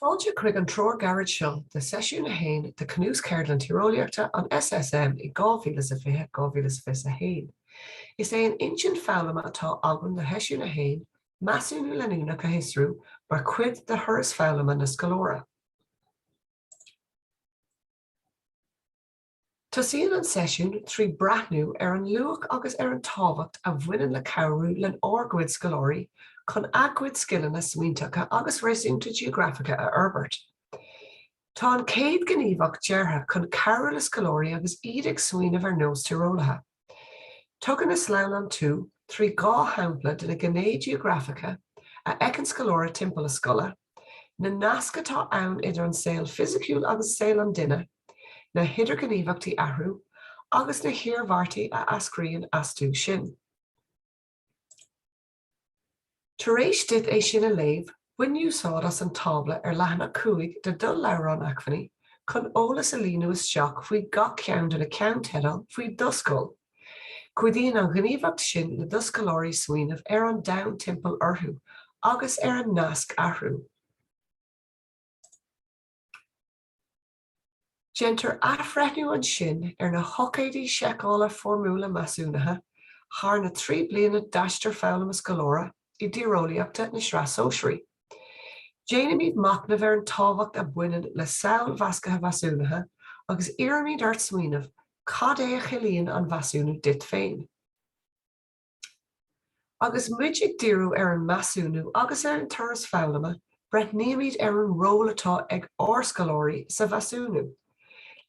Fáilte chuig an treoir gairid seo de Seisiún 1 de Chnuas-Cheardlann Tíreolaíochta an SSM i 2020, 2021. Is é an intinn foghlama atá againn do Sheisiún 1, measúnú leanúnach a fhiosrú mar chuid de thuras foghlama an scoláire. Tosaíonn an seisiún trí breathnú ar an luach agus ar an tábhacht a bhaineann le cabhrú lenár gcuid scoláirí chun a gcuid scileanna smaointeacha agus réasúnta geografacha a fhorbairt. Tá an chéad ghníomhaíocht deartha chun cabhrú le scoláirí agus iad ag smaoineamh ar nós tíreolaithe. Tugann an sleamhnán tú trí dhá shampla de na gné geografacha a fheiceann scoláire timpeall a scoile, na nasc atá ann idir an saol fisiciúil agus saol an duine, na hidirghníomhachtaí athrú, agus na hiarmhairtí a eascraíonn astu sin. Tar éis duit é sin a léamh, bain úsáid as an tábla ar leathanach 5 de do Leabhrán Acmhainní chun eolas a líonadh isteach faoi gach ceann de na ceannteideal faoi do scoil. Cuidíonn an ghníomhaíocht sin le do scoláirí smaoineamh ar an domhan timpeall orthu agus ar an nasc, athrú. Déantar athbhreithniú ansin ar na hocáidí seiceála foirmiúla measúnaithe thar na trí bliana d'aistear foghlama scoláire i dtíreolaíochta na Sraith Sóisearaí. Déanaimid machnamh ar an tábhacht a bhaineann le samhail mheascaithe mheasúnaithe agus iarraimid ort smaoineamh cad é a chiallaíonn an mheasúnú duit féin. Agus muid ag díriú ar an measúnú agus ar an turas foghlama, breathnaímid ar an ról atá ag ár scoláirí sa mheasúnú.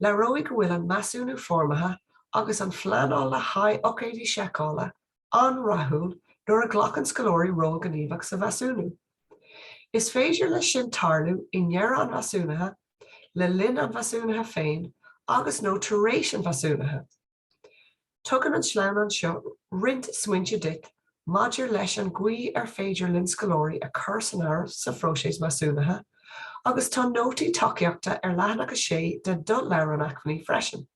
Léiríodh go bhfuil an measúnú foirmitheach agus an phleanáil le haghaidh ócáidí seiceála an-rathúil nuair a ghlacann scoláirí ról gníomhach sa mheasúnú. Is féidir leis sin tarlú i ndearadh an mheasúnaithe, le linn an mheasúnaithe féin agus, nó tar éis an mheasúnaithe. Tugann an sleamhnán seo roinnt smaointe duit maidir leis an gcaoi ar féidir linn scoláirí a chur san áireamh sa phróiseas measúnaithe agus tá nótaí tacaíochta ar leathanach 6 de do Leabhrán Acmhainní freisin.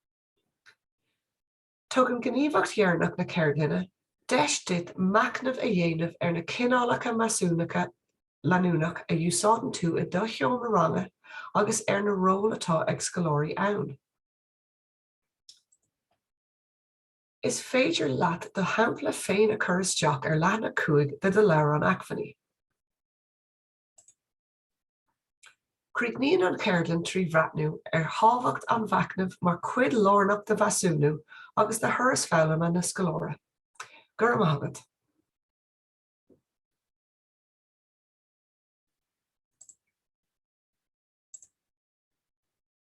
Tugann gníomhaíocht dheireanach na ceardlainne deis duit machnamh a dhéanamh ar na cineálacha measúnaithe leanúnach a úsáideann tú i do sheomra ranga agus ar na róil atá ag scoláirí ann. Is féidir leat do shampla féin a chur isteach ar leathanach 5 de do leabhrán acmhainní. Críochnaíonn an cheardlann trí bhreathnú ar thábhacht an mhachnaimh mar chuid lárnach de mheasúnú agus de thuras foghlama an scoláire. Go raibh maith agat!